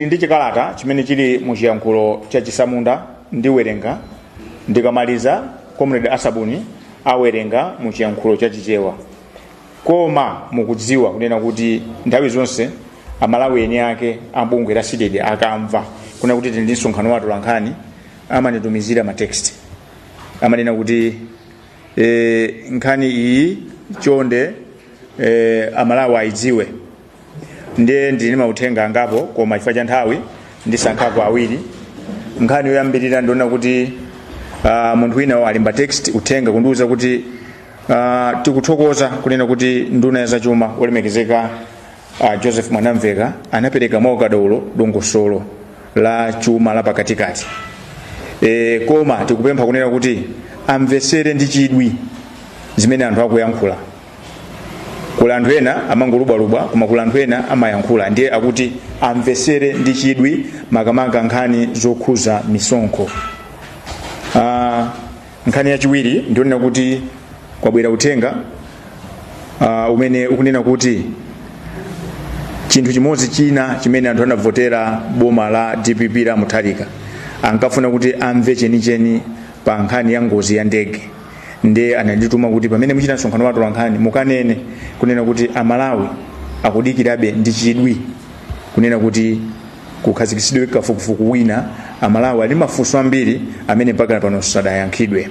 ndi chikalata chimene chili mu chiyankhulo cha chisamunda ndiwerenga ndikamaliza comrade asabuni awerenga mu chiyankhulo cha chichewa koma mukudziwa kunena kuti nthawi zonse amalawi eni ake a bungwe la cdedi akamva kunena kuti tili ndi msonkhano wa atolankhani amanitumizira matext amanena kuti e, nkhani iyi chonde e, amalawi ayidziwe ndiye ndili ndi mauthenga angapo koma chifukwa cha nthawi ndisankhapo awiri nkhani yoyambirira ndiyonena kuti uh, munthu wina walemba text uthenga kundiuza kuti uh, tikuthokoza kunena kuti nduna ya zachuma olemekezeka uh, joseph mwanamveka anapereka mwaukadaulo dongosolo la chuma la pakatikati e, koma tikupempha kunena kuti amvetsere ndi chidwi zimene anthu akuyankhula kuli anthu ena amangolubwalubwa koma kuli anthu ena amayankhula ndiye akuti amvesere ndi chidwi makamaka nkhani zokhuza misonkho uh, nkhani yachiwiri ndiyonena kuti kwabwera uthenga uh, umene ukunena kuti chinthu chimodzi china chimene anthu anavotera boma la dpp la mutharika ankafuna kuti amve chenicheni pa nkhani ya ngozi ya ndege ndiye anandituma kuti pamene muchita msonkhano wa atolankhani mukanene kunena kuti amalawi akudikirabe ndi chidwi kunena kuti kukhazikitsidwe kafukufuku wina amalawi ali mafunso ambiri amene mpaka pano sadayankhidwe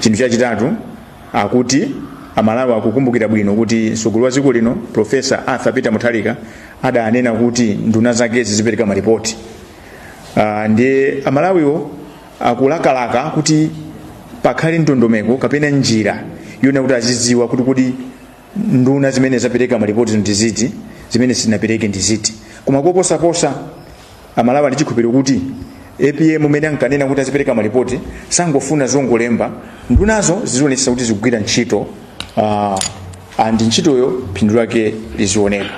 chinthu chachitatu akuti amalawi akukumbukira bwino kuti mtsogoleri wa dziko lino profesa arthur peter mutharika adanena kuti nduna zake zizipereka maripoti uh, ndiye amalawiwo akulakalaka kuti pakhale ndondomeko kapena njira yonena kuti azidziwa kuti kodi nduna zimene zapereka malipoti ndi ziti zimene sizinapereke ndi ziti koma koposaposa amalawi ali ndi chikhulupiriro kuti apm mmene ankanena kuti azipereka malipoti sangofuna zongolemba ndunazo zizionetsa kuti zikugwira ntchito uh, and ntchitoyo phindu lake lizioneka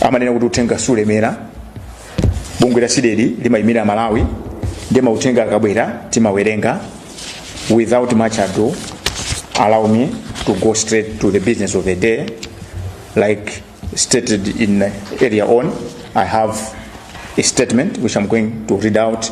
amanena kuti uthenga sulemera bungwe la cdedi limayimira amalawi ndiye mauthenga akabwera timawerenga without much ado allow me to go straight to the business of the day like stated in earlier on i have a statement which i'm going to read out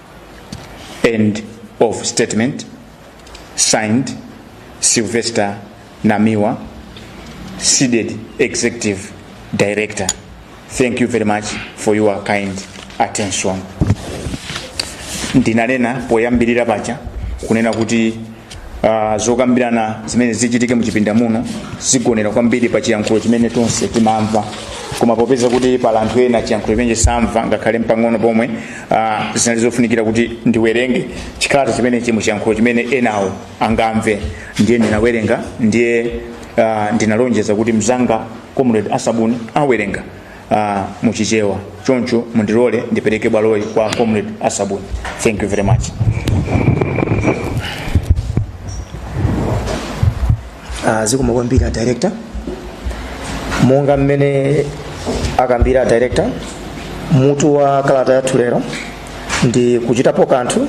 End of statement. Signed, Sylvester Namiwa, seeded executive director. Thank you very much for your kind attention. Ndinanena poyambirira paja kunena kuti Uh, zokambirana zimene zichitike muchipinda muno zigonera kwambiri pa chiyankhulo chimene tonse timamva koma popeza kuti pali anthu ena chiyankhulo chimenechi samva ngakhale mpang'ono pomwe uh, zinali zofunikira kuti ndiwerenge chikalata chimenechi muchiyankhulo chimene enawo angamve ndiye ndinawerenga ndiye uh, ndinalonjeza kuti mzanga comrade asabuni awerenga uh, muchichewa choncho mundilole ndipereke bwaloli kwa comrade asabuni thank you very much uh, zikomo kwambiri director monga mmene akambira director mutu wa kalata yathu lero ndi kuchitapo kanthu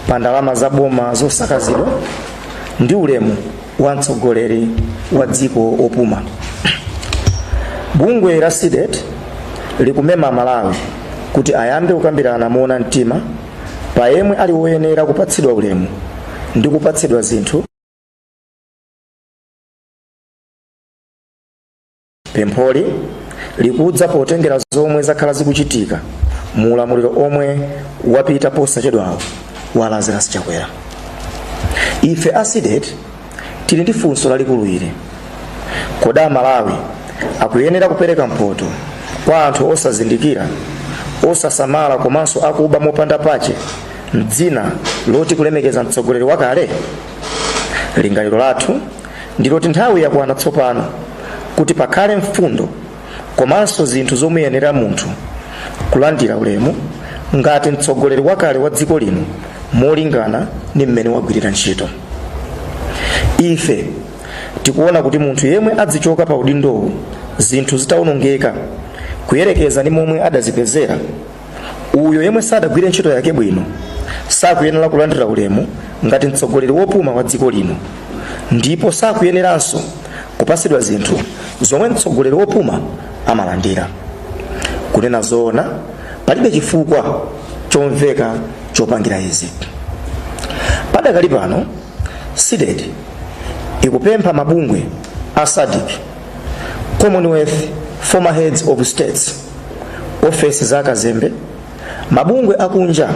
pa ndalama za boma zosakazidwa ndi ulemu wa mtsogoleri wa dziko opuma bungwe la cdedi likumema amalawi kuti ayambe kukambirana moona mtima pa yemwe ali woyenera kupatsidwa ulemu ndi kupatsidwa zinthu Pempholi likudza potengera zomwe zakhala zikuchitika mu ulamuliro omwe wapita posachedwawo wa Lazarus Chakwera. Ife a CDEDI tili ndi funso lalikulu ili. Kodi Amalawi akuyenera kupereka mphoto kwa anthu osazindikira, osasamala komanso akuba mopanda pache m'dzina loti kulemekeza mtsogoleri wakale? Lingaliro lathu ndiloti nthawi yakwana tsopano kuti pakhale mfundo komanso zinthu zomuyenera munthu kulandira ulemu ngati mtsogoleri wakale wa dziko lino molingana ndi mmene wagwirira ntchito ife tikuona kuti munthu yemwe adzichoka pa udindowu zinthu zitawonongeka kuyerekeza ndi momwe adazipezera uyo yemwe sadagwire ntchito yake bwino sakuyenera kulandira ulemu ngati mtsogoleri wopuma wa dziko lino ndipo sakuyeneranso kupasidwa zinthu zomwe mtsogoleri wopuma amalandira kunena zoona palibe chifukwa chomveka chopangira izi padakali pano cdedi ikupempha mabungwe a sadc commonwealth former heads of states ofesi za akazembe mabungwe akunja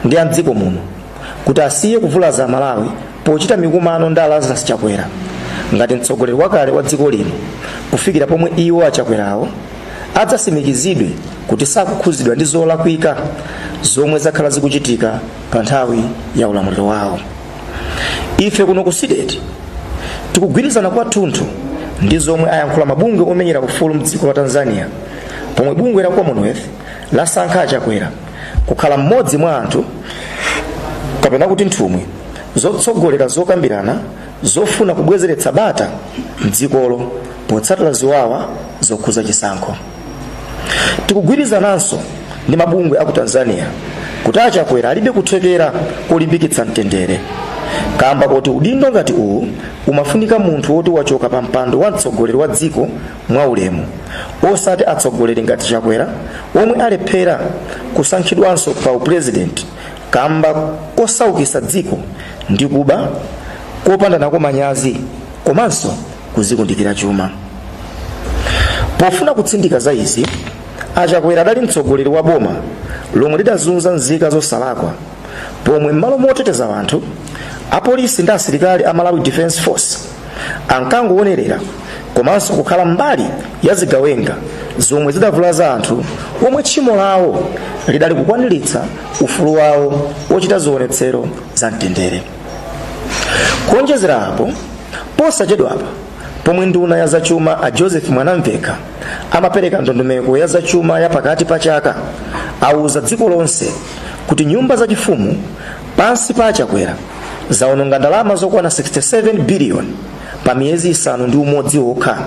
ndi a mdziko muno kuti asiye kuvulaza amalawi pochita mikumano ndi a lazarus chakwera ngati mtsogoleri wakale wa dziko lino kufikira pomwe iwo achakwerawo adzasimikizidwe kuti sakukhuzidwa ndi zolakwika zomwe zakhala zikuchitika pa nthawi ya ulamuliro wawo ife kuno ku cdedi tikugwirizana kwathunthu ndi zomwe ayankhula mabungwe omenyera ufulu mdziko la tanzania pomwe bungwe la commonwealth lasankha achakwera kukhala mmodzi mwa anthu kapena kuti nthumwi zotsogolera zokambirana zofuna kubwezeretsa bata mdzikolo potsatira ziwawa zokhuza chisankho tikugwirizananso ndi mabungwe a ku tanzania kuti achakwera alibe kuthekera kolimbikitsa mtendere kamba koti udindo ngati uwu umafunika munthu woti wachoka pa mpando wa mtsogoleri wa dziko mwaulemu osati atsogoleri ngati chakwera omwe alephera kusankhidwanso pa upulezidenti kamba kosaukisa dziko ndi kuba kopanda nako manyazi komanso kuzikundikira chuma pofuna kutsindika za izi achakwera adali mtsogoleri wa boma lomwe lidazunza nzika zosalakwa pomwe m'malo moteteza anthu apolisi ndi asilikali a malawi defense force ankangowonerera komanso kukhala mbali ya zigawenga zomwe zidavulaza anthu omwe tchimo lawo lidali kukwaniritsa ufulu wawo wochita zionetsero za mtendere kuonjezera apo posachedwapa pomwe nduna ya zachuma a joseph mwanamvekha amapereka ndondomeko ya zachuma ya pakati pa chaka auza dziko lonse kuti nyumba zachifumu pansi pa achakwera zaononga ndalama zokwana 67 biliyoni pa miyezi isanu ndi umodzi okha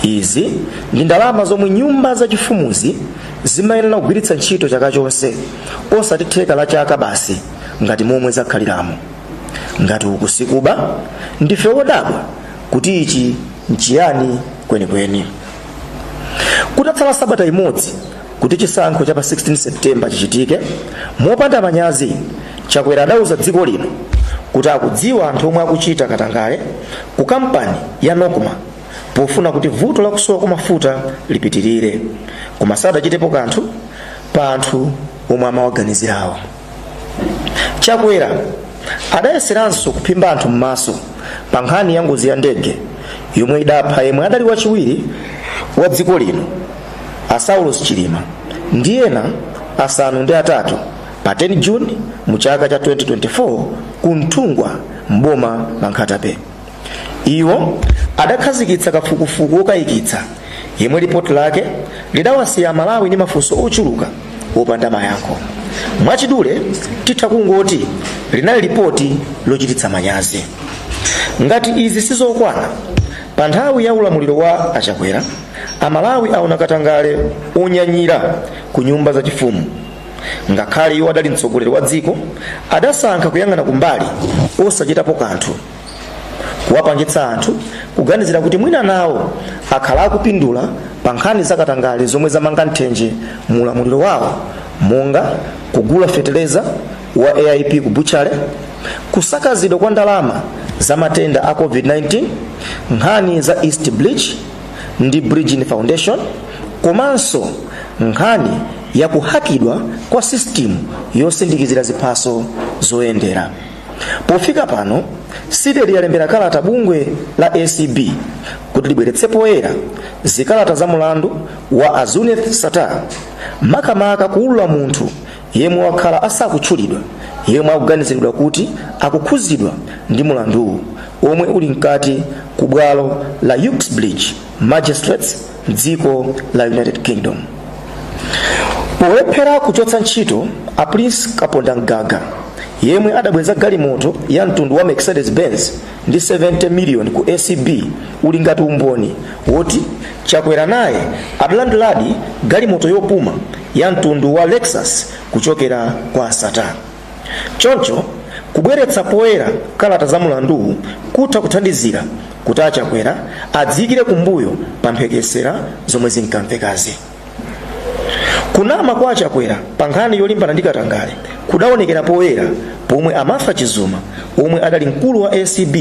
izi ndi ndalama zomwe nyumba zachifumuzi zimayenera kugwiritsa ntchito chaka chonse osati theka la chaka basi ngati momwe zakhaliramo ngati uku sikuba ndife odabwa kuti ichi nchiyani kwenikweni kutatsala sabata imodzi kuti chisankho cha pa 16 septemba chichitike mopanda manyazi chakwera adauza dziko lino kuti akudziwa anthu omwe akuchita katangale ku kampani ya nocma pofuna kuti vuto la kusowa kwa mafuta lipitirire koma sadachitepo kanthu pa anthu omwe amawaganizirawo chakwera adayeseranso kuphimba anthu m'maso pa nkhani ya ngozi ya ndege yomwe idapha yemwe adali wachiwiri wa dziko lino a saulos chilima ndi ena asanu ndi atatu pa 10 juni mu chaka cha 2024 ku nthungwa m'boma la nkhata bay iwo adakhazikitsa kafukufuku wokayikitsa yemwe lipoti lake lidawasiya amalawi ndi mafunso ochuluka opanda mayankho mwachidule titha kungoti linali lipoti lochititsa manyazi ngati izi sizokwana pa nthawi ya ulamuliro wa achakwera amalawi aona katangale onyanyira ku nyumba zachifumu ngakhale iwo adali mtsogoleri wa dziko adasankha kuyang'ana kumbali osachitapo kanthu kuwapangitsa anthu kuganizira kuti mwina nawo akhala akupindula pa nkhani zakatangale zomwe zamanga nthenje mu ulamuliro wawo monga kugula feteleza wa aip ku butchale kusakazidwa kwa ndalama za matenda a covid-19 nkhani za east bridge ndi bridgin foundation komanso nkhani yakuhakidwa kwa system yosindikizira ziphaso zoyendera pofika pano cdedi yalembera kalata bungwe la acb kuti libweretse poyera zikalata za mulandu wa a zuneth sattar makamaka kuulula munthu yemwe wakhala asakutchulidwa yemwe akuganiziridwa kuti akukhudzidwa ndi mulanduwu omwe uli mkati ku bwalo la uxbridge magistrates mdziko la united kingdom polephera kuchotsa ntchito a prince kapondamgaga yemwe adabweza galimoto ya mtundu wa mercedes benz ndi 70 million ku acb uli ngati umboni woti chakwera naye adalandiladi galimoto yopuma ya mtundu wa lexus kuchokera kwa a sattar Choncho, kubweretsa poyera kalata za mulanduwu kutha kuthandizira kuti a Chakwera adziikire kumbuyo pa mphekesera zomwe zinkamvekazi. Kunama kwa a Chakwera pa nkhani yolimbana ndi katangale kudaonekera poyera pomwe a Martha Chizuma omwe adali mkulu wa acb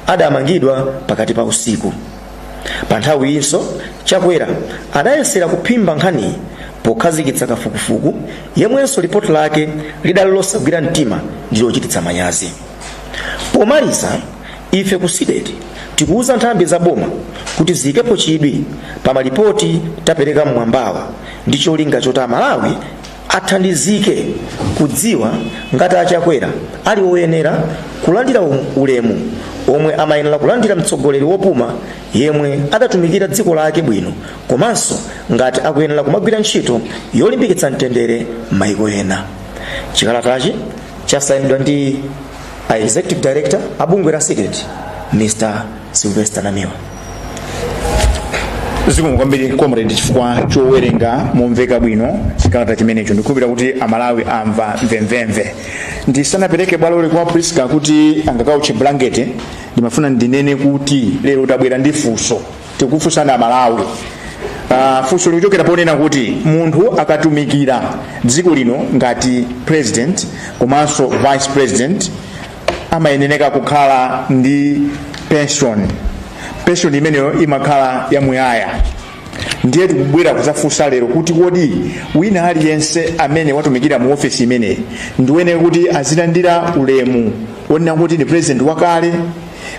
adamangidwa pakati pa usiku. pa nthawiyinso chakwera adayesera kuphimba nkhaniyi pokhazikitsa kafukufuku yemwenso lipoti lake lidali losagwira mtima ndi lochititsa manyazi pomaliza ife ku cdedi tikuwuza nthambi za boma kuti ziyikepo chidwi pa malipoti tapereka mmwambawa ndi cholinga choti amalawi athandizike kudziwa ngati a Chakwera ali oyenera kulandira ulemu omwe amayenera kulandira mtsogoleri wopuma yemwe adatumikira dziko lake bwino komanso ngati akuyenera kumagwira ntchito yolimbikitsa mtendere m'mayiko ena chikalatachi chasayinidwa ndi a executive director a bungwe la cdedi mr sylvester namiwa zikomo kwambiri comrade chifukwa chowerenga momveka bwino chikalata chimenecho ndikukhulupirira kuti amalawi amva mvemvemve ndisanapereke bwaloli kwa priska kuti angakauche blanket ndimafuna ndinene kuti lero tabwera ndi funso tikufunsana amalawi Uh, funso likuchokera ponena kuti munthu akatumikira dziko lino ngati president komanso vice president amayeneka kukhala ndi pension pension imeneyo imakhala yamuyaya ndiye tikubwera kuzafunsa lero kuti kodi wina aliyense amene watumikira mu ofesi imeneyi ndi woyenera kuti azilandira ulemu wonena kuti ndi president wakale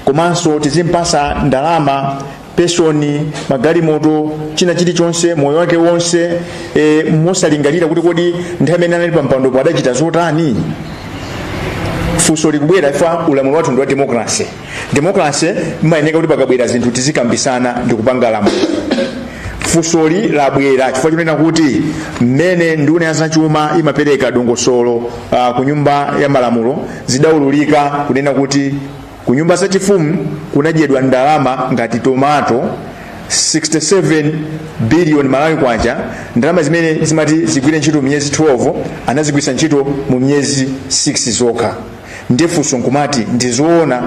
komanso tizimpasa ndalama pension magalimoto china chilichonse moyo wake wonse e, mosalingalira kuti kodi nthawi imene anali pampandopo adachita zotani funso likubwera chifukwa ulamuliro wathu ndi wa demokrase demokrase imayeneka kuti pakabwera zinthu tizikambisana ndi kupanga lamulo funsoli labwera chifukwa chonena kuti mmene nduna ya zachuma imapereka dongosolo uh, ku nyumba ya malamulo zidaululika kunena kuti ku nyumba zachifumu kunadyedwa ndalama ngati tomato 67 billion malawi kwacha ndalama zimene zimati zigwire ntchito miyezi 12 anazigwisa ntchito mu miyezi 6 zokha nde funso nkumati ndizoona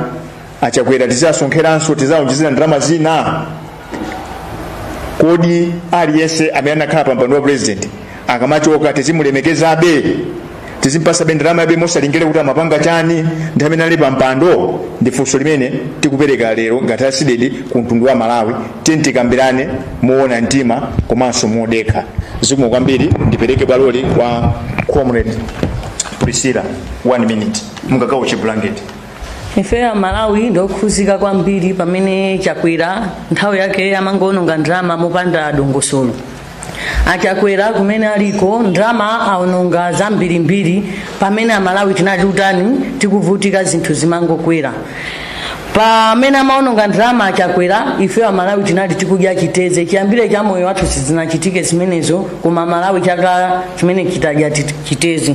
achakwera tizasonkheranso tizawaonjezera ndalama zina kodi aliyense amene anakhala pa mpando wa president akamachoka tizimulemekezabe tizimpasabe ndalama yabe mosalingalira kuti amapanga chani nthawi imene ali pa mpando ndi funso limene tikupereka lero ngati asidedi ku mtundu wa malawi tiyeni tikambirane moona mtima komanso modekha zikomo kwambiri ndipereke bwaloli kwa comrade priscilla one minute mungagawo blanket ifeyo amalawi ndife okhuzika kwambiri pamene chakwera nthawi yake amangoononga ndalama mopanda dongosolo achakwera kumene aliko ndalama aononga zambirimbiri pamene amalawi tinali utani tikuvutika zinthu zimangokwera pamene amaononga ndalama achakwera ifeyo amalawi tinali tikudya chiteze chiyambire cha moyo wathu sizinachitike zimenezo koma amalawi chaka chimene chitadya chiteze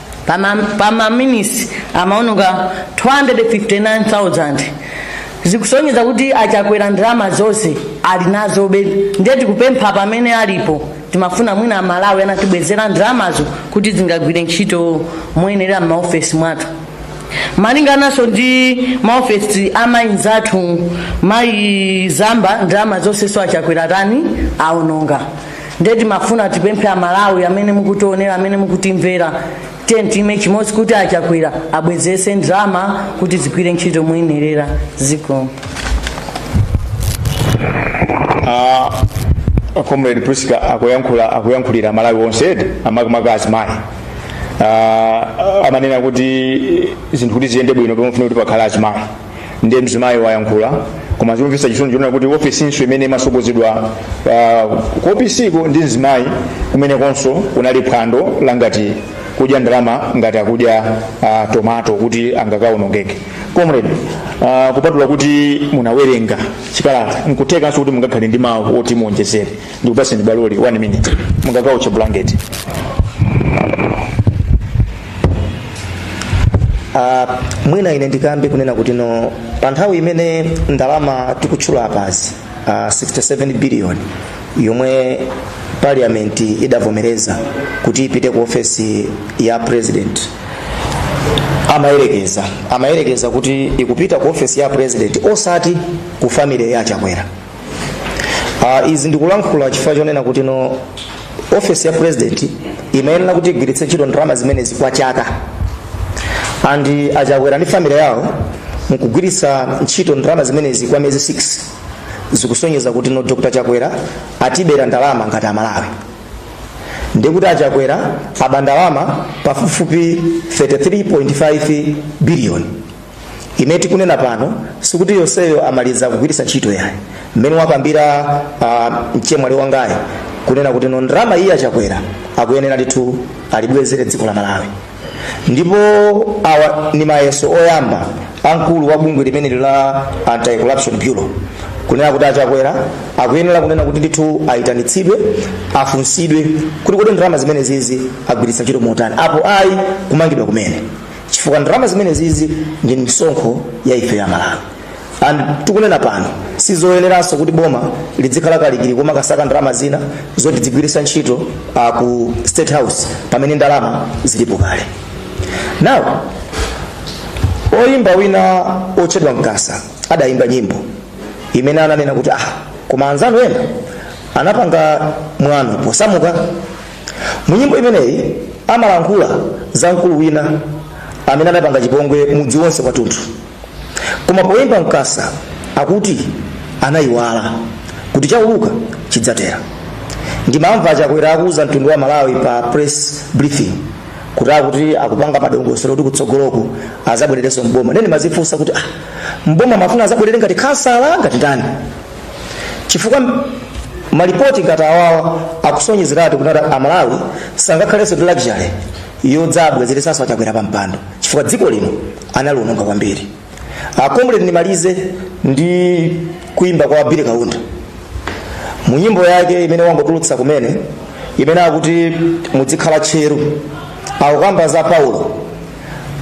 pa minute amaononga 259,000 zikusonyeza kuti achakwera ndalama zonse ali nazobe ndiye tikupempha pamene alipo timafuna mwina amalawi atatibwezera ndalamazo kuti zingagwire ntchito moyenera m'maofesi mwathu malinga nawonso ndi maofesi amayi zathu mayi zamba ndalama zonse so achakwera tani aononga ndiye timafuna tipemphe amalawi amene mukutionera amene mukutimvera tiyeni tiime chimodzi kuti achakwera abwezese ndalama kuti zigwire ntchito moyenerera zikomo Ah, comrade Priska akuyankhula akuyankhulira amalawi onse edi makamaka azimayi Ah, amanena kuti zinthu kuti ziyende bwino pamafunika kuti pakhala azimayi ndiye mzimayi wayankhula koma zikumvetsa chisoni chonena kuti ofisinso imene imasogozedwa uh, ku ofisiko ndi mzimayi kumenekonso kunali phwando langati kudya ndalama ngati akudya uh, tomato kuti angakaonongeke comrade uh, kupatula kuti munawerenga chikalata nkuthekanso kuti mungakhale ndi mawu oti muonjezere ndikupaseni baloli 1 minute mungakauche blanket Uh, mwina ine ndikambe kunena kuti no pa nthawi imene ndalama tikutchula apazi uh, 67 billion yomwe parliament idavomereza kuti ipite ku ofesi ya president amayerekeza amayerekeza kuti ikupita ku ofesi ya president osati ku family ya achakwera uh, izi ndikulankhula chifukwa chonena kuti no ofesi ya president imayenera kuti igwiritse ntchito ndalama zimenezi kwa chaka and achakwera ndi family yawo kugwiritsa ntchito ndalama zimenezi kwa miyezi 6 zikusonyeza kuti no dr chakwera atibera ndalama ngati amalawi ndikuti achakwera aba ndalama pafupifupi 33.5 biliyoni imene tikunena pano sikuti yonseyo amaliza kugwiritsa ntchito yayi mmene wakambira uh, mchemwali wangayi kunena kuti no ndalama iyi achakwera akuyenera ndithu alibwezere dziko la malawi ndipo awa ni mayeso oyamba amkulu wa bungwe limeneli la anti corruption bureau kunena kuti achakwera akuyenera kunena kuti ndithu ayitanitsidwe afunsidwe kuti kodi ndalama zimenezizi agwiritsa ntchito motani apo ayi kumangidwa kumene chifukwa ndalama zimenezizi ndi misonkho ya ife amalawi and tikunena pano sizoyeneranso kuti boma lidzikhala kalikili komakasaka ndalama zina zoti adzigwiritsa ntchito uh, ku state house pamene ndalama zilipo kale now oyimba wina otchedwa mkasa adayimba nyimbo imene ananena kuti ah koma anzanu ena anapanga mwano posamuka mu nyimbo imeneyi amalankhula za mkulu wina amene anapanga chipongwe mudzi wonse wathunthu koma poyimba mkasa akuti anayiwala kuti chauluka chidzatera ndimamva achakwera akuwuza mtundu wa amalawi pa press briefing kuti akuti akupanga madongosolo kuti kutsogoloko azabwererenso mboma ndiye ndimazifunsa kuti ah, mboma amafuna azabwerere ngati khansala ngati ndani chifukwa malipoti ngati awawa akusonyezeratu kuti amalawi sangakhalenso ndi luxury yodzabwezeretsanso achakwera pa mpando chifukwa dziko lino analiononga kwambiri a comrade ndimalize ndi kuimba kwa billy kaunda mu nyimbo yake imene wangotulutsa kumene imene akuti mudzikhala tcheru akukamba za paulo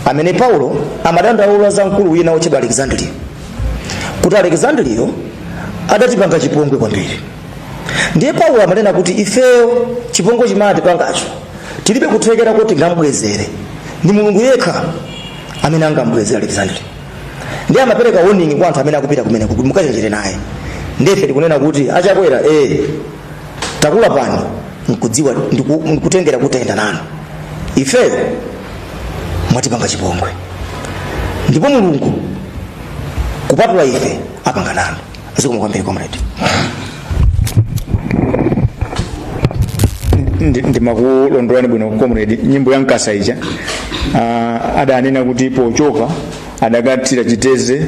amene paulo amadandaula za mkulu wina wotchedwa alexandriyo kuti alexandriyo adatipanga chipongwe kwambiri ndiye paulo amanena kuti ifeyo chipongwe chimene atipangacho tilibe kuthekera kuti tingambwezere ndi mulungu yekha amene angambwezere alexandriyo ndiye amapereka warning kwa anthu amene akupita kumeneko kuti mukachenjere naye ndiye ife tikunena kuti achakwera ee takula pang'ono nkudziwa ndiku- ndikutengera kuti tayenda nanu ifeyo mwatipanga chipongwe ndipo mulungu kupatula ife apanga nanu zikomo kwambiri comrade Ndi- ndimakulondolani bwino comrade nyimbo ya nkasa ija ah, adanena kuti pochoka adakathira chitedze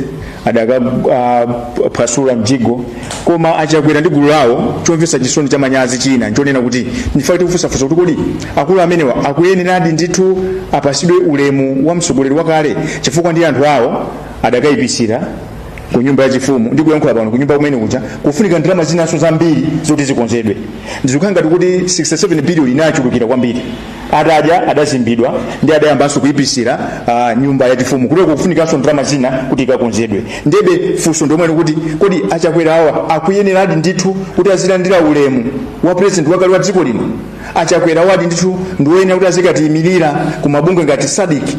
adakaphwasula uh, mjigo koma achakwera ndi gulu lawo chomvetsa chisoni cha manyazi china nchonena kuti ndife tikufunsafunsa kuti kodi akulu amenewa akuyeneradi ndithu apatsidwe ulemu wa mtsogoleri wakale chifukwa ndi anthu awo adakayipisira ku nyumba yachifumu ndi kuyankhula pano ku nyumba kumene kuja kufunika ndalama zinanso zambiri zoti zikonzedwe ndizikhala ngati kuti 67 biliyoni inachulukira kwambiri adadya adazimbidwa ndi adayambanso kuipisira uh, nyumba yachifumu kutoko kufunikanso ndalama zina kuti ikakonzedwe ndebe funso ndonena kuti kodi achakwera awa akuyeneradi ndithu kuti azilandira ulemu wa president wakale wa dziko lino achakwera awadi ndithu ndiwoyenera kuti azikatiyimirira ku mabungwe ngati sadiki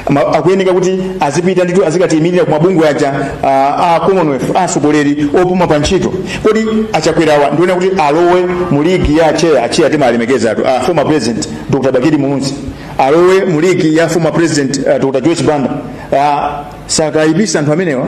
Ma- akuyeneka kuti azipita ndithu azikatiyimirira ku mabungwe aja ah, a commonwealth a atsogoleri opuma pa ntchito kodi achakwerawa ndiwoyenera kuti alowe mu ligi ya atcheya atcheya timawalemekezatu a former president dr bakili muluzi alowe mu ligi ya former president ah, dr joyce banda Ah, sakayipisa anthu amenewa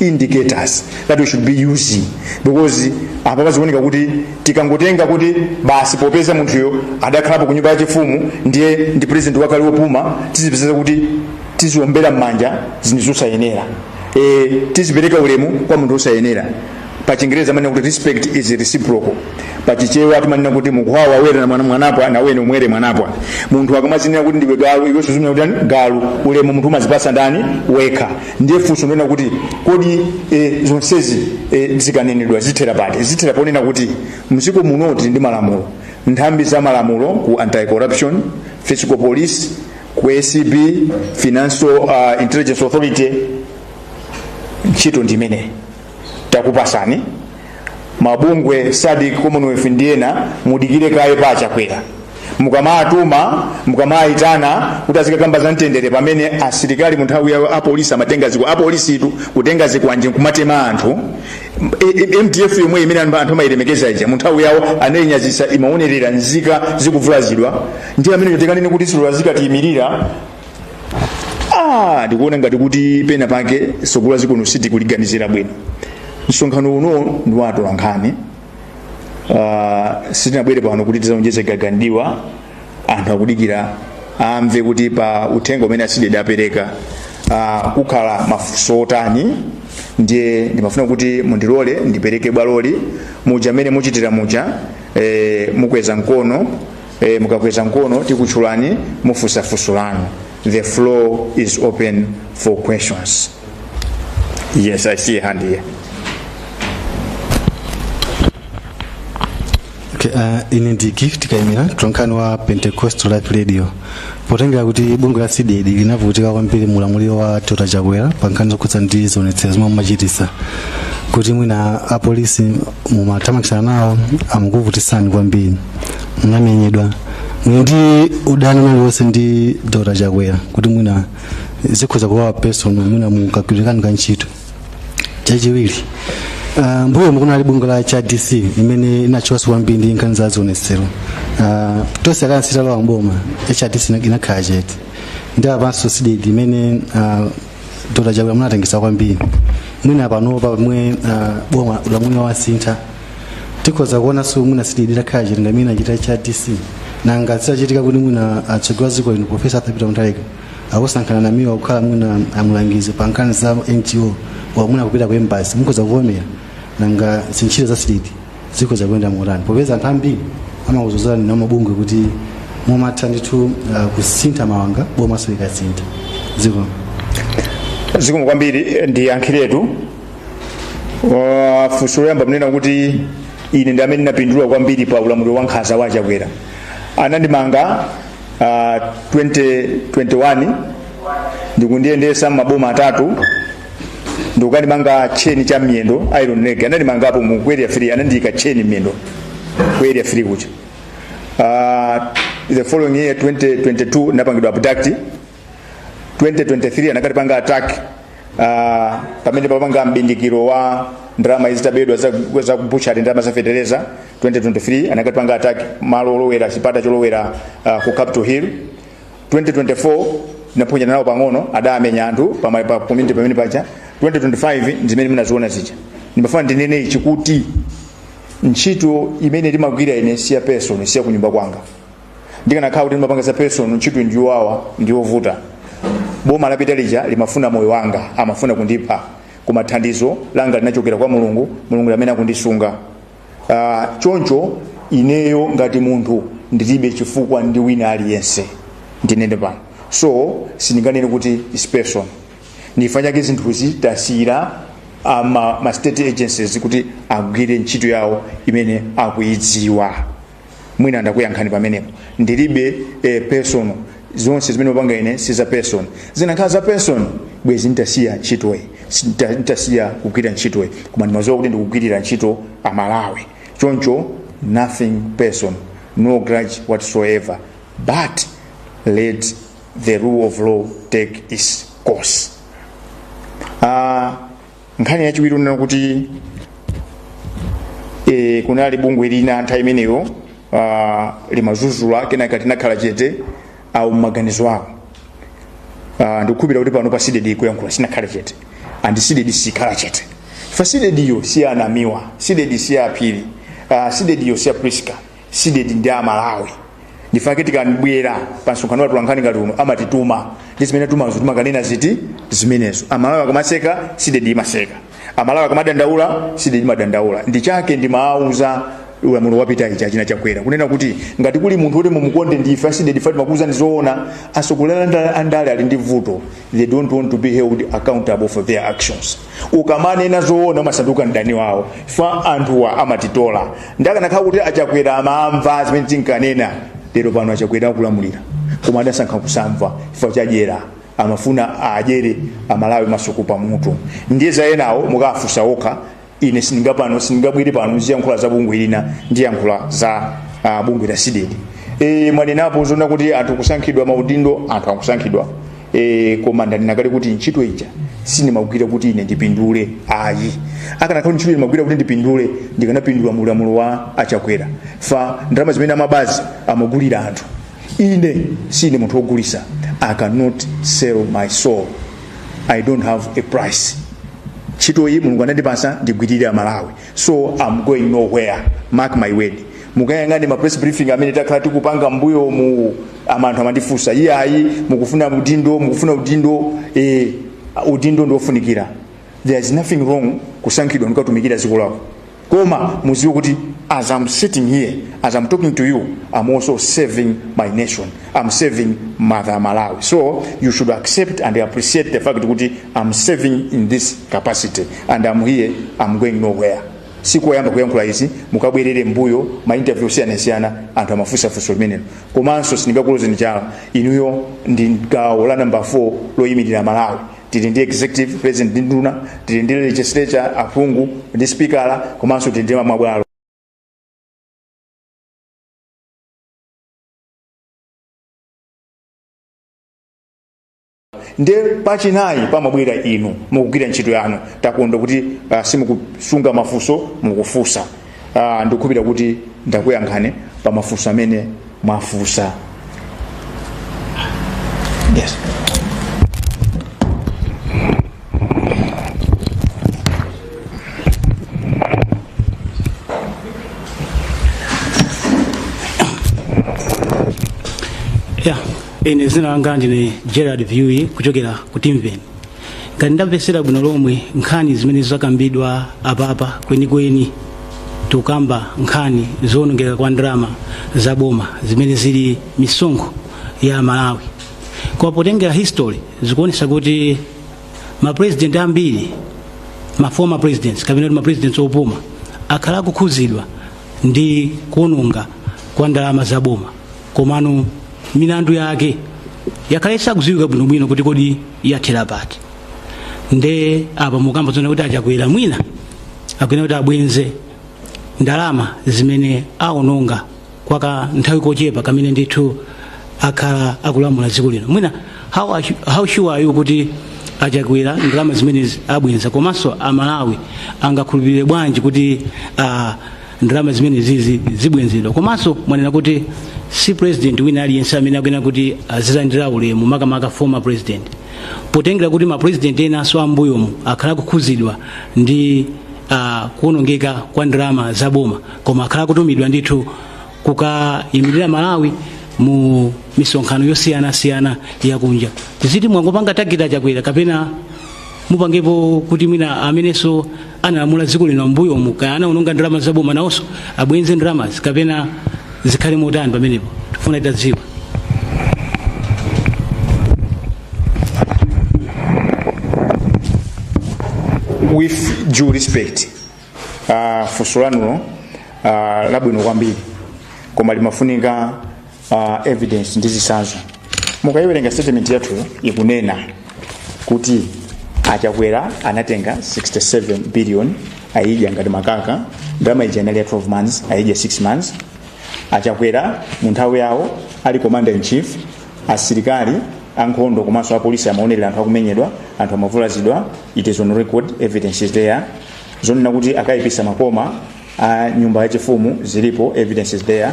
indicators that we should be using because apa pazikuoneka kuti tikangotenga kuti basi popeza munthuyo adakhalapo ku nyumba yachifumu ndiye ndi president wakale wopuma tizipezeka kuti tiziombera m'manja zinthu zosayenera e, tizipereka ulemu kwa munthu wosayenera pa chingereza amanena kuti respect is reciprocal pa chichewa timanena kuti mukhwawa awere na mwana mwanapwa na wene umwere mwanapwa munthu akamadzinena kuti ndiwe galu iwe suuzumira kuti ani? galu ulemu munthu umadzipatsa ndani wekha ndiye funso ndona kuti kodi e, zonsezi e, zikanenedwa zithera pati zithera ponena kuti m'dziko muno tili ndi malamulo nthambi za malamulo ku anti corruption fiscal police ku acb financial uh, intelligence authority ntchito ndi imeneyi takupasani mabungwe sadik commonwealth ndi ena mudikire kaye pa achakwera mukamatuma mukamayitana kuti azikakamba za mtendere pamene asilikali mu nthawi yawo apolisi amatenga zikwa apolisitu kutenga zikwanje nkumatema anthu E- e- mdf yomwe imene anthu anthu amayilemekeza ija mu nthawi yawo anayinyazitsa imaonerera nzika zikuvulazidwa ndi ameneyo tikanene kuti sitilola azikatiyimirira ah ndikuona ngati kuti pena pake sogolo la dziko lino sitikuliganizira bwino msonkhano uno ndi wa atolankhani uh, sitinabwere pano kuti tizaonjeze gaga ndi ma anthu akudikira amve kuti pa uthenga umene a cdedi apereka uh, pakhala mafunso otani ndiye ndimafuna kuti mundilole ndipereke bwaloli muja mmene muchitira muja eh, mukweza mkono e, mukakweza mkono tikutchulani mufunsa funso lanu the floor is open for questions yes i see a hand here Okay, uh, ine ndi gift kaimira mtolankhani wa pentecostal life radio potengera kuti bungwe la cdedi linavutika kwambiri mulamuliro wa dr chakwera pa nkhani zokhudza ndi zionetsero zomwe mumachitisa kuti mwina apolisi mumathamangitsana nawo amukuvutisani kwambiri munamenyedwa muli ndi udani uliwonse ndi dr chakwera kuti mwina zikhoza kukhala personal mwina mukagwirizana ka ntchito chachiwiri uh, mmbuyomu kunali bungwe la hrdc imene inatchukaso kwambiri ndi nkhani za zionetsero uh, tonse alliance italowa m'boma hrdc ina- inakhala chete ndiye panopa cdedi imene uh, dr chakwera munatengesa kwambiri mwina panopa pomwe uh, boma ulamuliro wasintha tikhoza kuona so kuti mwina cdedi itakhala chete ngati mmene achitira hrdc nanga zitachitika kuti mwina atsogoleri a dziko lino profesa arthur peter mutharika akusankhani a namiwa kukhala mwina mlangizi pa nkhani za ngo kapena mwina kupita ku embassy mukhoza kuvomera nanga ntchito za cdedi zikhoza kuyenda motani popeza anthu ambiri amakudzudzulani amabungwe kuti mumatha ndithu ah, kusintha mawanga bomaso likasintha zikomo kwambiri ndiyankhiretu Uh, funso loyamba mnena kuti ine ndi amene ndinapindula kwambiri pa ulamuliro wa nkhanza wa chakwera anandimanga uh, 2021 ndikundiyendesa m'maboma atatu ndikukandimanga tcheni cha m'miyendo iron leg anandimanga pompo ku area 3 anandiyika tcheni m'miyendo ku area 3 kucha uh, the following year 2022 napangidwa abduct 2023 anakatipanga attack uh, pamene timapanga mbindikiro wa ndalama zitabedwa za, za kubuchari ndalama za feteleza 2023 anakatipanga attack malo olowera chipata cholowera uh, ku capital hill 2024 tinaphonyana nawo pang'ono adamenya anthu pama- pa community pamene paja 2025 ndimene munaziona zija ndimafuna ndinene ichi kuti ntchito imene timagwira ine si ya personal si ya kunyumba kwanga ndikanakhala kuti ndimapanga za personal ntchito ndi yowawa ndi yovuta boma lapita lija limafuna moyo wanga amafuna kundipha koma thandizo langa linachokera kwa mulungu mulungu ndi amene akundisunga Ah, choncho ineyo ngati munthu ndilibe chifukwa ndi wina aliyense ndinene pano so sindinganene kuti it's personal ndifa chake zinthuzi tasiyira ah, ma, ma state agencies kuti agwire ntchito yawo imene akuyidziwa mwina ndakuyankhani pamenepo ndilibe eh, personal zonse zimene ndimapanga ine si za personal zinakhala za personal bwezi nditasiya ntchitoyi Sita- nditasiya kugwira ntchitoyi koma ndimaziwa kuti ndikugwirira ntchito amalawi choncho nothing personal no grudge whatsoever but let the rule of law take its course uh, nkhani yachiwiri unena kuti e, kunali bungwe lina nthawi imeneyo uh, limazuzula kenaka tinakhala chete awo mmaganizo awo uh, ndikukhulupira kuti pano pa CDEDI kuyankhula sinakhale chete and CDEDI sikhala chete fa CDEDIyo si anamiwa CDEDI si aphiri uh, CDEDIyo si aprisca CDEDI ndi amalawi ndifake tikamabwera pa msonkhano wa atolankhani ngati uno amatituma ndi zimene tumazo timakanena ziti zimenezo amalawi akamaseka CDEDI imaseka amalawi akamadandaula CDEDI imadandaula ndi chake ndimawuza ulamuliro wapita ichi achina chakwera kunena kuti ngati kuli munthu woti mumukonde ndife a CDEDI fa timakuuzani zoona asogolela andale ali ndi vuto they don't want to be held accountable for their actions ukamanena zoona umasanduka mdani wawo fa anthuwa amatitola nde akanakhala kuti achakwera amamva zimene tinkanena lero pano achakwera akulamulira koma adasankha kusamva chifukwa chadyera amafuna adyere amalawi masuku pamutu ndiye za enawo mukafunsa okha ine sindinga pano sindingabwere pano ziyankhula za bungwe lina ndiyankhula za uh, bungwe la CDEDI e, mwanenapo zonena kuti anthu kusankhidwa maudindo anthu akusankhidwa e, koma ndanena kale kuti ntchito ija sindimagwira kuti ine ndipindule ayi akanakhala ntchito ndimagwira kuti ndipindule ndikanapindula mu ulamuliro wa achakwera fa ndalama zimene amabazi amagulira anthu ine sine munthu wogulisa i cannot sell my soul i don't have a price ntchito iyi mulungu anandipasa ndigwirire amalawi so i'm going nowhere mark my word mukayang'ane ma press briefing amene takhala tikupanga mbuyomu anthu amandifunsa iyayi mukufuna udindo mukufuna udindo eh, udindo ndiofunikira there is nothing wrong kusankhidwa ndikatumikira dziko lako koma muziwe kuti as i'm sitting here as i'm talking to you i'm also serving my nation I'm serving mother Malawi. So you should accept and appreciate the fact kuti I'm serving in this capacity and I'm here, I'm going nowhere. si koyamba kuyankhula izi mukabwerere mbuyo ma interview osiyanasiyana anthu amafunsa funso limenelo komanso sindingakulozeni chala inuyo ndi gawo la namba 4 loyimirira amalawi tili ndi executive president ndi nduna tili ndi legislature aphungu ndi spikala komanso tili ndi mabwalo nde pachinayi pamabwera inu mukugwira ntchito yanu takonda kuti uh, simukusunga mafunso mukufunsa uh, ndikukhulupirira kuti ndakuyankhani pa mafunso amene mwafunsa yes ya ine zina langa ndine gerard viewi kuchokera ku Timveni ngati ndamvetsera bwino lomwe nkhani zimene zakambidwa apapa kwenikweni tikukamba nkhani zoonongeka kwa ndalama za boma zimene zili misonkho ya amalawi koma potengera history zikuonesa kuti ma president ambiri ma former presidents kapena kuti ma presidents opuma akhala akukhuzidwa ndi kuononga kwa ndalama za boma komano milandu yake yakhala isakuziwika bwinobwino kuti kodi yathera pati nde apa mukukamba zonena kuti a Chakwera mwina akuyenera kuti abwenze ndalama zimene aononga kwa ka nthawi kochepa kamene ndithu akhala akulamula dziko lino mwina how sure are you kuti a Chakwera ndalama zimenezi abwenza komanso amalawi angakhulupirire bwanji kuti uh, ndalama zimenezi zi zibwenzedwa komanso mwanena kuti si president wina aliyense amene akuyenera kuti azilandira ulemu makamaka former president potengera kuti ma president enanso ambuyomu akhala akukhudzidwa ndi uh, kuonongeka kwa ndalama za boma koma akhala akutumidwa ndithu kukayimirira malawi mu misonkhano yosiyanasiyana yakunja tiziti mwangopanga target a Chakwera kapena mupangepo kuti mwina amenenso analamula dziko lino mbuyomu kaya anaononga ndalama zaboma nawonso abwenze ndalamazi kapena zikhale motani pamenepo tifuna titadziwa with due respect uh, funso lanulo uh, labwino kwambiri koma limafunika uh, evidence ndi zisanzo mukayiwerenga statement yathu ikunena kuti achakwera anatenga 67 billion ayidya ngati makaka ndalama ija inali ya 12 months ayidya 6 months achakwera mu nthawi yawo ali commander in chief asilikali ankhondo komanso apolisi amaonerera anthu akumenyedwa anthu amavulazidwa it is on record evidence is there zonena kuti akaipisa makoma a nyumba yachifumu zilipo evidence is there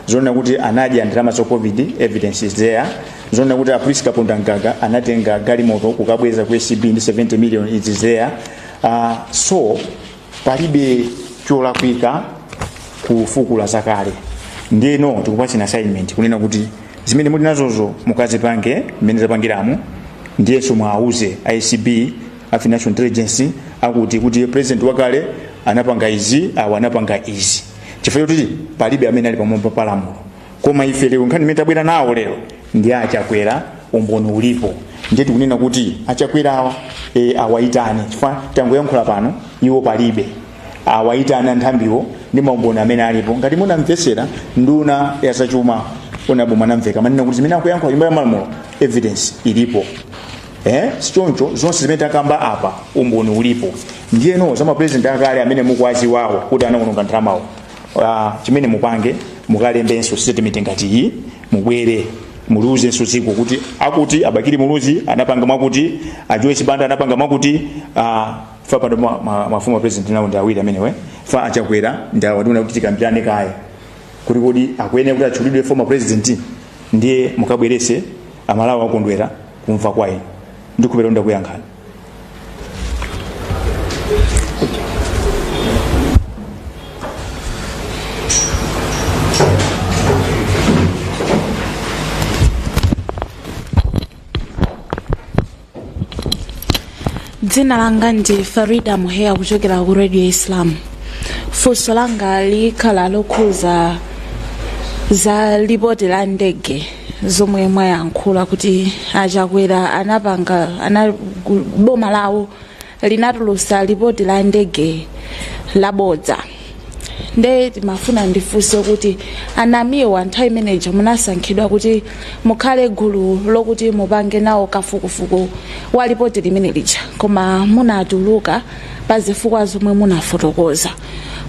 zonena kuti anadya ndalama za covid evidence is there zonena kuti a priska pundangaga anatenga galimoto kukabweza ku acb ndi 70 million it is there uh, so palibe cholakwika kufukula zakale ndiyeno tikupatsani assignment kunena kuti zimene muli nazozo mukazipange mmene zapangiramo ndiyenso muwauze acb a financial intelligence akuti kuti president wakale anapanga izi awa anapanga izi chifukwa choti palibe amene ali pamwamba pa lamulo koma ife lero nkhani imene tabwera nawo lero ndi achakwera umboni ulipo ndiye tikunena kuti achakwera awa e, awayitane chifukwa tangoyankhula pano iwo palibe awayitane anthambiwo ndi maumboni amene alipo ngati munamvetsera nduna ya zachuma onabo mwanamveka amanena kuti zimene akuyankhula nyumba ya malamulo evidence ilipo eh sichoncho zonse zimene takamba apa umboni ulipo ndiyeno za mapresident akale amene mukuwadziwawo kuti anawononga ndalamawo uh, chimene mupange mukalembenso statement ngati iyi mubwere muliuzenso dziko kuti akuti abakili muluzi anapanga mwakuti ajoyce banda anapanga mwakuti uh, ife pano ma, ma, mafumu a president nawo ndi awiri amenewe fa achakwera ndi awa tiona kuti tikambirane kaye kuti kodi akuyenera kuti atchulidwe former president ndiye mukabwerese amalawi akondwera kumva kwa inu ndikhulupirira ndakuyankhani dzina langa ndi farida muheya kuchokera ku radio islam funso langa likhala lokhuza za lipoti la ndege zomwe mwayankhula kuti achakwera anapanga ana boma lawo linatulusa lipoti la ndege labodza nde timafuna ndifunse kuti anamiwa nthawi imeneja munasankhidwa kuti mukhale gulu lokuti mupange nawo kafukufuku wa lipoti limene lija koma munatuluka pa zifukwa zomwe munafotokoza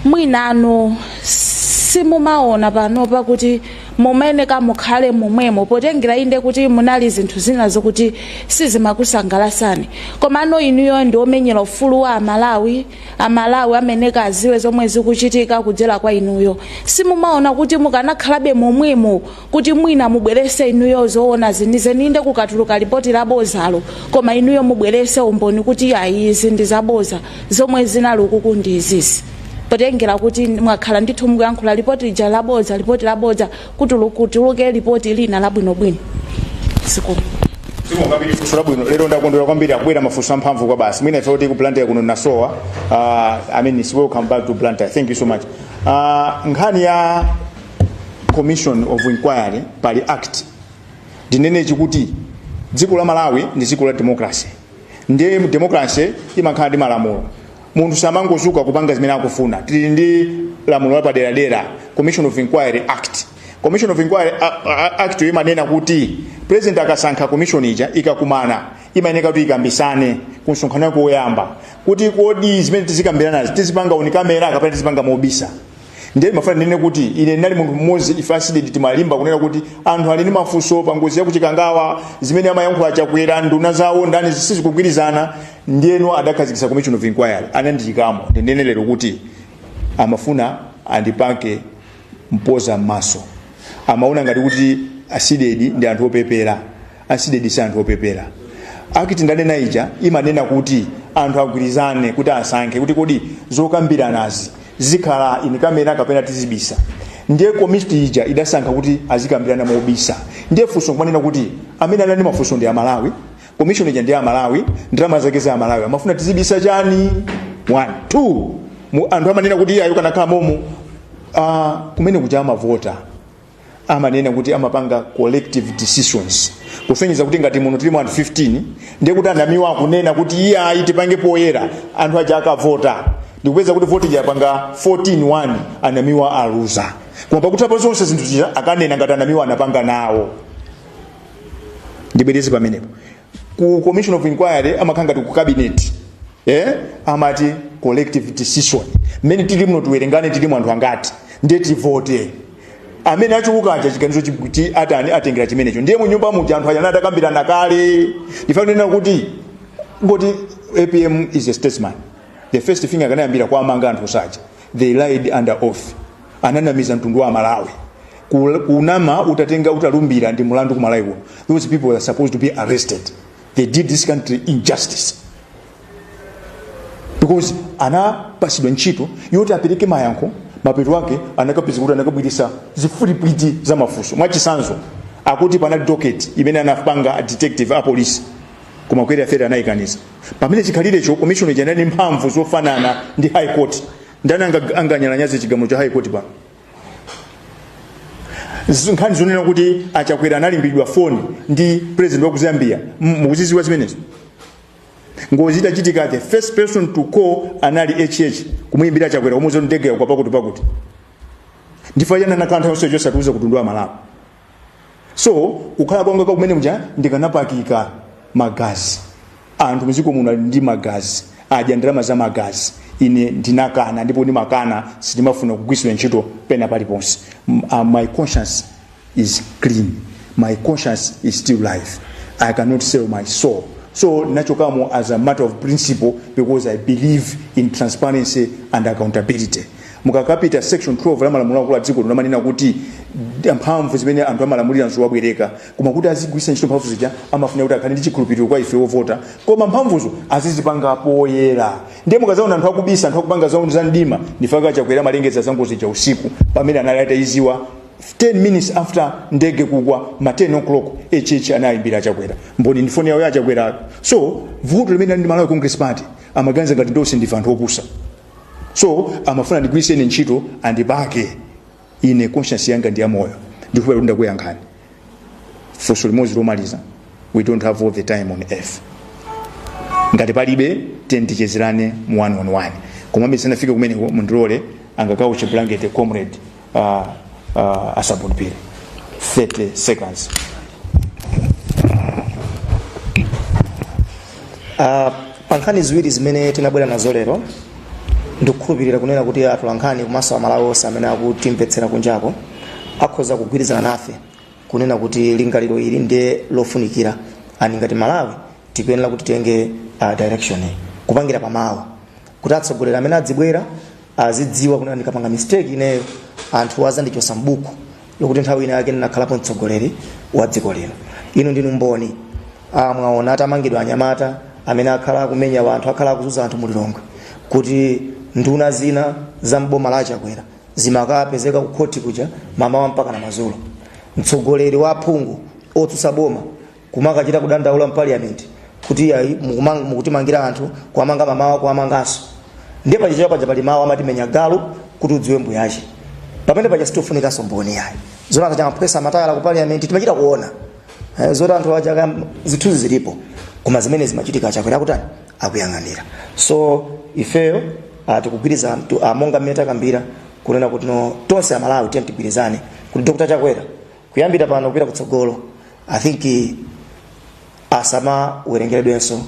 mwinanu simumaona pano pakuti mumayeneka mukhale momwemo potengera inde kuti munali zinthu zina zokuti sizimakusangalasani komano inuyo ndi omenyera ufulu wa amalawi amalawi amayeneka aziwe zomwe zikuchitika kudzera kwa inuyo simumaona kuti mukanakhalabe momwemo kuti mwina mubwerese inuyo zoona zenizeni inde kukatuluka lipoti labozalo koma inuyo mubwerese umboni kuti ayi izi ndi zaboza zomwe zinali ukuku ndi izizi potengera kuti mwakhala ndithu mukuyankhula lipoti lija labodza lipoti labodza kuti kutuluke lipoti lina labwinobwino zikomo kwambiri funso labwino lero ndakondwera kwambiri akubwera mafunso amphamvu kwabasi mwina ife kuti ku Blantyre kuno nasowa uh, i mean it's welcome back to Blantyre thank you so much uh, nkhani ya commission of inquiry pali act ndinene ichi kuti dziko la malawi ndi dziko la democracy ndiye mu democracy imakhala ndi malamulo munthu samangozuka kupanga zimene akufuna tili ndi lamulo lapaderadera commission of inquiry act commission of inquiry a- a- act yo imanena kuti president akasankha commission ija ikakumana imayeneka kuti ikambisane ku msonkhano wake woyamba kuti kodi zimene tizikambiranazi tizipanga on camera kapena tizipanga mobisa ndiye mafuna ndinene kuti ine ndinali munthu mmodzi ife a cdedi timalimba kunena kuti anthu ali ndi mafunso pa ngozi ya kuchikangawa zimene amayankhula chakwera nduna zawo ndani zisizikugwirizana ndiyeno adakhazikitsa commission of inquiry anandiyikamo ndinene lero kuti amafuna andipake mpoza m'maso amaona ngati kuti a cdedi ndi anthu opepera a cdedi si anthu opepera act ndanena ija imanena kuti anthu agwirizane kuti asankhe kuti kodi zokambiranazi zikhala in camera kapena tizibisa ndiye komiti ija idasankha kuti azikambirana mobisa ndiye funso kumanena kuti amene anali mafunso ndi amalawi komishoni ija ndi amalawi ndalama zake za amalawi amafuna tizibisa chani one two Mu- anthu amanena kuti iyeyo akanakhala momo uh, kumene kuja amavota amanena kuti amapanga collective decisions kusonyeza kuti ngati muno tilimo anthu 15 ndiye kuti a namiwa akunena kuti iyayi tipange poyera anthu aja akavota ndikupeza kuti voti yapanga 14-1 a namiwa aluza koma pakutha pa zonse zinthu zija akanena ngati a namiwa anapanga nawo ndibwereze pamenepo ku commission of inquiry amakhala ngati ku cabinet eh? amati collective decision mmene tili muno tiwerengane tilimo anthu angati ndiye tivote amene achuluka aja chiganizo chi- chi- atani atengera chimenecho ndiye mu nyumba muja anthu aja anali atakambirana kale ndifanenena kuti ngati apm is a statesman the first thing akanayambira kuwamanga anthu onse aja they lied under oath ananamiza mtundu wa malawi Ku- kunama utatenga utalumbira ndi mulandu ku malawi kuno those people are supposed to be arrested they did this country injustice because anapasidwa ntchito yoti apereke mayankho mapeto ake anakapezeka kuti anakabwirisa zifulipwiti za mafunso mwachisanzo akuti panali docket imene anapanga a detective a police koma Chakwera fere anayikaniza pamene chikhalirecho commission ija inali ndi mphamvu zofanana ndi high court ndani anga- anganyalanyaze chigamulo cha high court pano Z- nkhani zonena kuti achakwera anayimbiridwa foni ndi president wa ku zambia M- mukuziziwa zimenezo ngozi itachitika the first person to call anali hh kumuyimbira achakwera kumuuza ndege yagwa pakuti pakuti ndifa yana nakantha yonse osatiuza mtundu wa malawi so kukhala kwanga kwa kumene muja ndikanapakika magazi anthu mdziko muno ali ndi magazi adya ndalama za magazi ine ndinakana ndipo ndimakana sindimafuna kugwiritsidwa ntchito pena paliponse M- uh, my conscience is clean my conscience is still live i cannot sell my soul so ndinachokamo as a matter of principle because i believe in transparency and accountability mukakapita section 12 ya malamulo akulu a dziko lino amanena kuti d- mphamvu zimene anthu amalamulira nzowabwereka koma kuti azigwiritsa ntchito mphamvu zija amafunika kuti akhale ndi chikhulupiriro kwa ife wovota koma mphamvuzo azizipanga poyera ndiye mukazaona anthu akubisa anthu akupanga za za mdima ndipo achakwera amalengeza za ngozi ja usiku pamene anali atayiziwa 10 minutes after ndege kugwa ma 10 o'clock hh anayimbira achakwera mboni ndifoni yawo ya achakwerayo so vuto limene ali ndi malawi congress party amaganiza ngati tonse ndife anthu opusa so amafuna andigwiritse ine ntchito andipake ine conscience yanga ndi yamoyo ndikuhopa kuti ndakuyankhani funso limodzi lomaliza we don't have all the time on earth ngati palibe then tichezerane mu one on one komabe tisanafike kumeneko mundilole a Nyakauche blanket comrade uh, uh, asabulupire 30 seconds Ah, pa nkhani ziwiri zimene tinabwera nazo lero ndikukhulupirira kunena kuti atolankhani komanso amalawi onse amene akutimvetsera kunjako akhoza kugwirizana nafe kunena kuti lingaliro ili ndi lofunikira ani ngati malawi tikuyenera kuti titenge uh, direction iyi kupangira pamawa kuti atsogoleri amene adzibwera azidziwa kuti ndikapanga mistake ineyo anthu azandichosa mbuku lokuti nthawi ina yake ndinakhalapo mtsogoleri wa dziko lino inu ndinu mboni ah, mwaona atamangidwa anyamata amene akhala akumenya wanthu akhala akuzunza anthu mulilongwe kuti nduna zina za mboma la achakwera zimakapezeka kukhoti kuja mamawa mpaka madzulo mtsogoleri wa aphungu otsutsa boma kumakachita kudandaula m'parliament kuti ayi, mukumang- mukutimangira anthu kuwamanga mamawa kuwamanganso ndiye pachichewa paja pali mawu amati menya galu kuti udziwe mbuyache pamene paja sitikufunikanso mboni yayi zoti anthu a Chamaphwesa amataya ku parliament timachita kuona Eh, zoti anthu aja zithunzi zilipo koma zimene zimachitika a Chakwera kutani akuyang'anira so ifeyo ah, tikugwirizana tu- ah, monga mmene takambira kunena kuti no tonse amalawi tiyeni tigwirizane kuti dr chakwera kuyambira pano kupita kutsogolo i think asamawerengeredwenso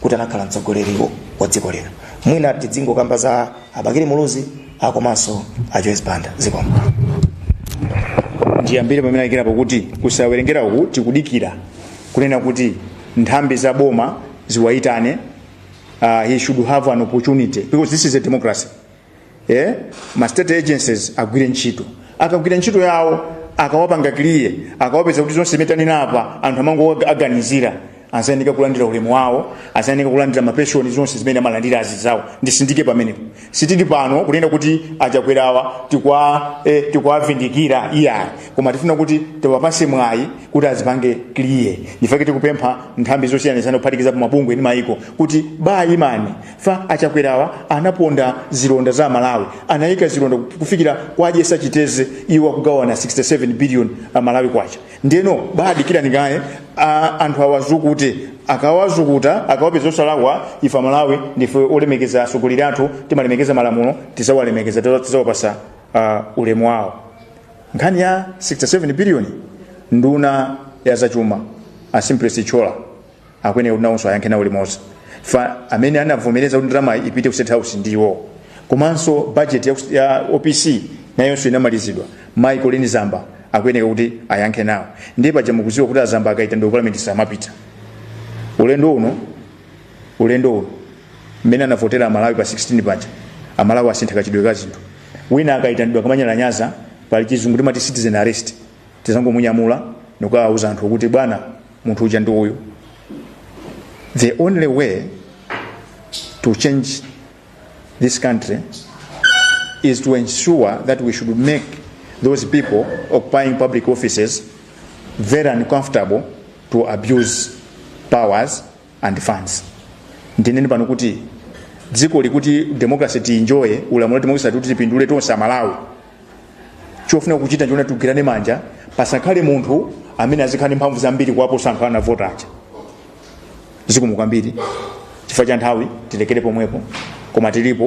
kuti anakhala mtsogoleri wo- wa dziko lino mwina tidzingokamba za a Bakili Muluzi akomanso a joyce banda zikomo ndiyambire pamene ayikirapo kuti kusawerengera uku tikudikira kunena kuti nthambi za boma ziwayitane uh, he should have an opportunity because this is a democracy eh? ma state agencies agwire ntchito akagwira ntchito yawo akawapanga clear akawapeza kuti zonse zimene tanena apa anthu amangoaganizira azayeneka kulandira ulemu wawo azayeneka kulandira mapenshoni zonse zimene amalandira azizawo ndisindike pamenepo sitili pano kunena kuti achakwerawa tikwa eh, tikwavindikira iyayi koma tifuna kuti tiwapase mwayi kuti azipange clear ndifake tikupempha nthambi zosiyanasiyana kuphatikizapo mabungwe ndi mayiko kuti baimani fa achakwerawa anaponda zilonda za amalawi anayika zilonda kufikira kukwajesa chitedze iwo akugawana 67 billion malawi kwacha ndeno badikirani kaye a- anthu awazukute akawazukuta akawapeza osalakwa ife amalawi ndife olemekeza atsogoleri athu timalemekeza malamulo tizawalemekeza tiza- tizawapasa uh, ulemu wawo nkhani ya 67 billion nduna ya zachuma a Simplex Chithyola akuyenera kuti nawonso ayankhe nawo limodzi fa amene anavomereza kuti ndalama ipite ku state house ndiwo komanso budget ya, ya opc nayonso inamalizidwa mayi Colleen Zamba akuyenera kuti ayankhe nawo ndiye paja mukudziwa kuti a Zamba akaitanidwa ndi parliament samapita ulendo uno ulendo uno mmene anavotera amalawi pa 16 paja amalawi asintha kachitidwe ka zinthu wina akaitanidwa akamanyalanyaza pali chizungu timati citizen arrest tizangomunyamula ndikukawauza anthu kuti bwana munthu uja ndi uyu the only way to change this country is to ensure that we should make those people occupying public offices very uncomfortable to abuse powers and funds ndinene pano kuti dzikoli kuti democracy tienjoye ulamuliro democracy kuti tipindule tonse amalawi chofuna kuchita n'choona tigwirane manja pasakhale munthu amene azikhala ndi mphamvu zambiri kuwaposa anthu anavota aja zikomo kwambiri chifukwa cha nthawi tilekere pomwepo koma tilipo